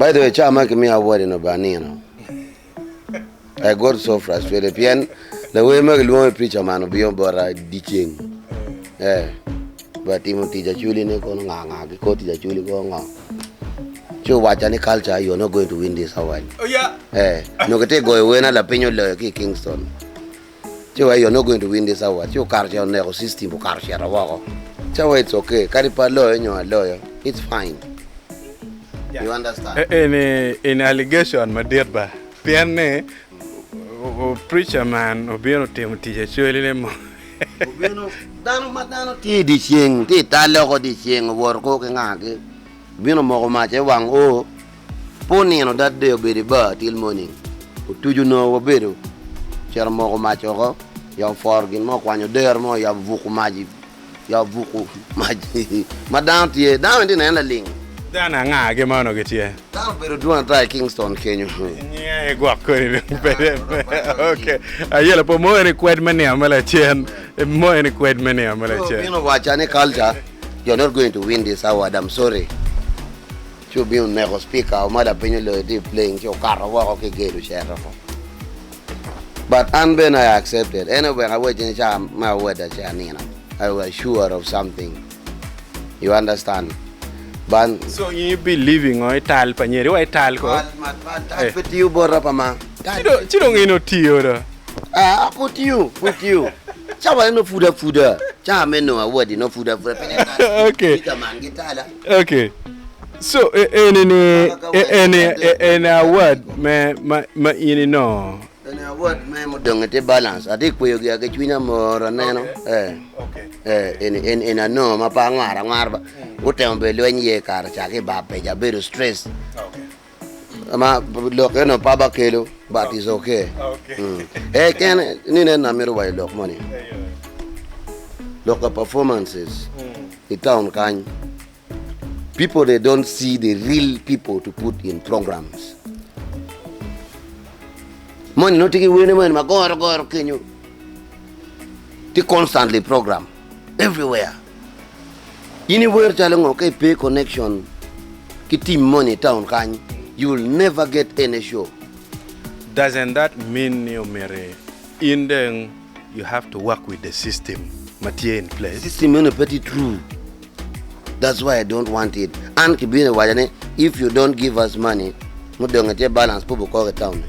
By the way, caa ma kimiyo award eno ba nino. I got so frustrated pien lawer ma kilwongo i preacher man obiyo bota dyeceng. Eh, ba timo tic aculi ne kono nga nga ki kor tic aculi ko ngo. Ci owacca ni culture you're not going to win this award. Oh yeah. Eh, nyo kiti goyo wena lapiny oloyo ki i Kingston. Ci wa i yo nongo going to win this award ci okato cito oneko system okato cito woko ca wa it's okay kadi pe aloyo nyo aloyo it's fine you understand. Eni eni allegation madit ba pien ni preacher man obino timo tic actually ne mo obino dano ma dano tye i dyeceng tye i talle oko dyeceng owoto koo ki nga ki obino omoko mac aye wang oo Pol nino dad dee obedo i bar till morning, otuco nongo wabedo ocito moko mac oko ya oforo gin mo okwanyo odero mo ya obuko mac ya obuko mac ma dano tye dano bene tye nene laling. Dano anga ki mono gitye? Dano obedo dwon ata i Kingston kenyo. Nyinga aye gwok koni dong pede ok aye lapor moyo ni kwed me nino me lacen moyo ni kwed me nino me lacen. Obino waca ni culture you're not going to win this award I'm sorry. Ci obino oneko Cpika o ma lapiny oloyo tye i plane ci okato woko ki gate ocito oko. But an bene I accepted ene wek awec in ca me awoda ci anino I was sure of something you understand but. So in you believe I ngo? I tal pa nyeri wa I tal ko? Tal ma tal tal pe tiyo bota pa ma. Ci dong in otiyo do? Aa pud tiyo pud tiyo cawa ne nongo pud apuda ca me nongo awodi nongo pud apuda pien en tal Cpika man gitala. Ok, so e, eni ni, Mana ka e, wek eni, e, adek e, eni adek award adek. me, ma, ma in inongo. Eni award me mudonge tye balance. Atye ka kweyo gia ki cwinya mor aneno. Eh. Eh, eni, eni, eni anongo ma pe angwar angwar ba. Gutemo bene lweny iye kare ca ki ba peja abedo stress. Ama lok eno pe abakelo but is okay. Ee kene ni nen na mito wa i lok moni. Lok ka performances i town kany people they don't see the real people to put in programs. Moni nongo tye ki wene moni ma goro goro kenyo tye constantly program. everywhere. In i wer calo ngo ka i pe connection ki team moni i town kany you will never get any show. Doesn't that mean ni omyero in dong you have to work with the system ma tye in place? System meno pe tye true that's why I don't want it an ki bino i waca ni if you don't give us money mudonge tye balance pe obukoke i town ni.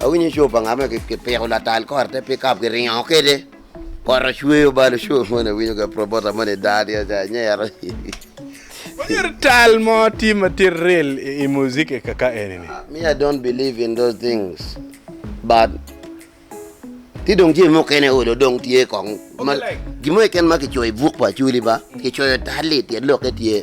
Awinyo co pa ngat ma kipiko latal kor te pikap kiringo kwede kor ocweyo balo co moni awinyo ga prabota moni daa tye ca anyero. Onyero tal mo tye ma tye real i music i kaka eni ni. Me I don't believe in those things but ki dong jami mukene olo dong tye kong gin mo keken ma kicoyo i buk pa Acholi ba kicoyo tal-li tyen lokke tye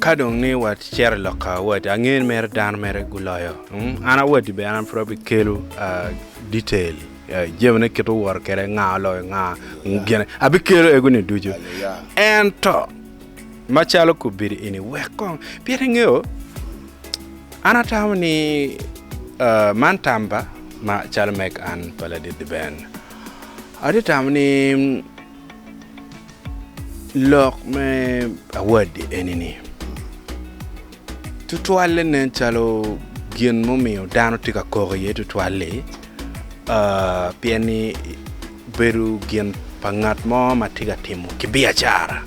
Ka dong ni wacito i lok ka awadi, angeyo ni mere dano mere guloyo. Mm, An awadi bene an pud abikelo ah, detail eh, jamine kit oworo kwede, nga oloyo nga, mm, gine. Abikelo ego-ni ducu. Ento, macalo kobedo eni, wek kong, pien ingeyo, an atamo ni ah, man tamba ma calo meg an pa ladit Ben. Atye tamo ni Lok me awadi eni ni, tutwalle nen calo gin mumiyo dano tye ka koko iye tutwal-li, pien ni bedo gin pa ngat mo ma tye ka timo ki biacara.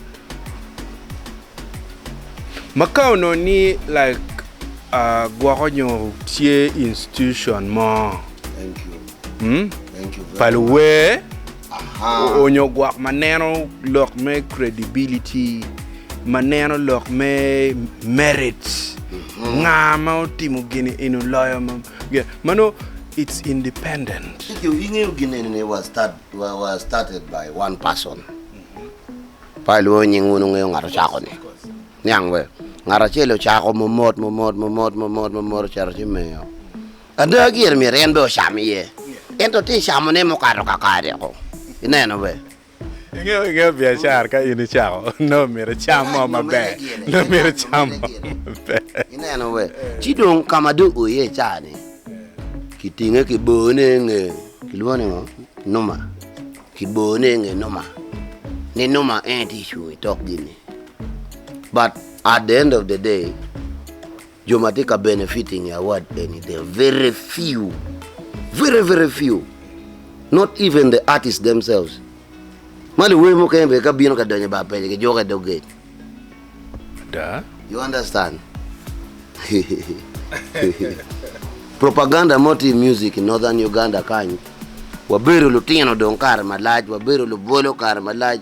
Ma ka onongo ni like gwoko nyo tye institution mo pa luwer. Oonyo gwok ma neno lok me credibility, ma neno lok me merits, nga ma otimo gini eni oloyo ma ge, mano it's independent. Kidong ingeyo gin eni ni was start was started by one person. Pa ilwongo nying wun wungeyo ngat ocako ni. Niang we. Ngat acel ocako momot momot momot momot momot ocito ci miyo Ada, gire myero en bene ocam iye, ento tye camone mukato kakare-o. Ineno be? Ingeyo, ingeyo biacara ka in icako, nongo myero icam mo maber, nongo myero icam mo maber. Ineno be? Ci dong ka ma dong oo iye ca-ni, kitinge kibone i nge, kilwongo ni ngo? Numa. Kibone i nge numa, ni numa en aye tye cung i tok gin-ni. But at the end of the day, Jo ma tye ka benefiting I award eni they are very few, very very few, not even the artist themselves ma luwer mukene bene ka bino ka donyo I bar pele ki juko I dog gate. Ada. You understand? Propaganda mo tye I music I northern Uganda kany, wabedo lutino dong kare malac, wabedo lubolo kare malac.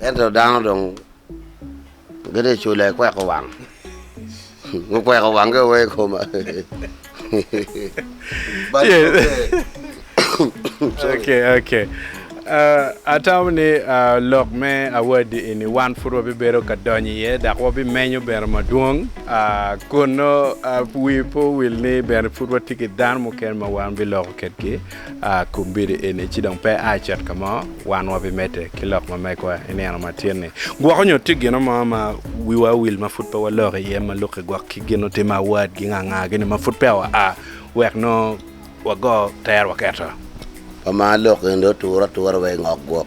Ento dano dong gitye ka cula i kweko wang, gukweko wangi wa i koma. Atamo ni lok me awadi eni wan pud wabibedo ka donyo iye dok wabimenyo bene madwong. Kun nongo wii pe owil ni bene pud watye ki dano mukene ma wan biloko kwedgi. A Kum bedo eni ci dong pe a cet ka mo, wan wabimedde ki lok ma megwa i nino matin-ni. Gwok onyo tye gino mo ma wiwa owil ma pud pe waloko iye ma lukke gwok ki gin otim a wad gi nga nga gini ma pud peya wa a wek nongo wago tero waketo. Pama lok eni dong otur atura wa i ngok gwok.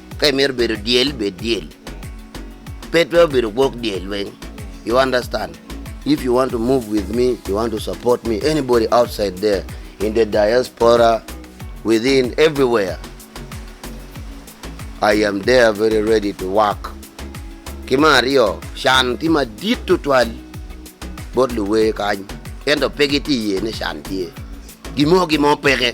Ka imito bedo dyel, bed dyel. Pe twero bedo gwok dyel weng. You understand? If you want to move with me, you want to support me, anybody outside there, in the diaspora, within, everywhere, I am there very ready to work. Ki me aryo, can tye madit tutwal bot luwer kany, ento pe gitye iye ni can tye. Gimo gimo peke.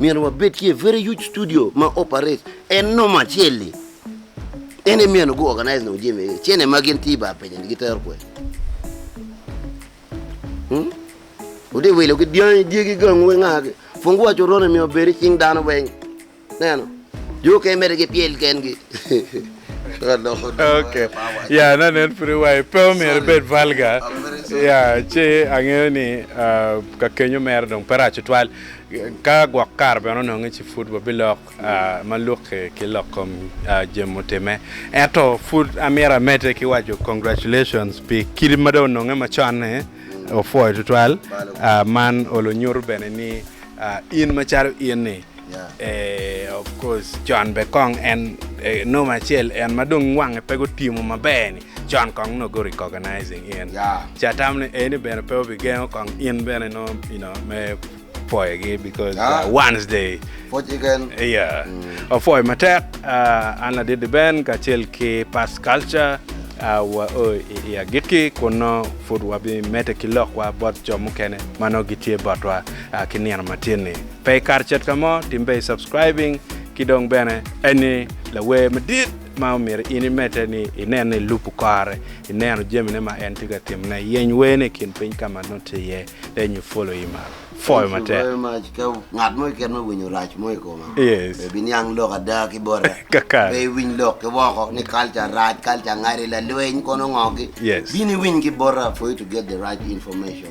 Myero wabed ki a very huge studio ma operate en nomo acel-li. En aye myero gu organize nongo jami egi. Cene ma gin tye i bar penya-ni gitero kwen? Hmm? Wutye wilo ki dyangi, dyegi, gangu ki nga? Fungu wa coron emi obed i cing dano weng. Neno. Jo kene mere gipyel kengi. Ka loko dong Okay. eh, power ci. Ya, na nen pud iwayo pe omyero Sorry. ibed vulgar. I'm very sorry. Ya, ci angeyo ni ah, ka kenyo mere dong pe rac tutwal. Ka gwok kare bene ononge ci pud wabilok ma lukke ki lok kom jami mutimme. Ento pud amito amedde ki waco congratulations pi kidi ma dong ononge macon-ni opwoyo tutwal. Man olo nyuto bene ni in macalo in-ni of course con be kong en noma acel en ma dong wange pe gutimo maber-ni Con kong nongo gu recognizing in. Yeah. Ca tam ni eni bene pe obi gengo kong in bene no you know me pwoyo gi because yeah. uh, once they Pwoj igen. Yeah. Mm. Opwoyo matek uh, an ladidi ben kacel ki past culture uh, wa o i, i agikki kun no pud wabi mete ki lokwa bot jo mukene ma no gitye botwa uh, ki nino matin ni. Pe ikar cet ka mo, timbe i subscribing ki dong bene eni lawer madit ma omyero in imedde ni inene i lubu kore, ineno jamine ma en tye ka timone, yeny werne i kin piny ka ma nongo tye iye, lenyo pwolo i malo. Pwoyo matek. Ka ngat mo keken ma winyo rac mo i koma, Yes. pe biniang lok ada ki bota. Kakare. Pe iwiny lok ki woko ni culture rac, culture ngati, lalweny, kono ngo gi. Yes. Bino iwiny ki bota for you to get the right information.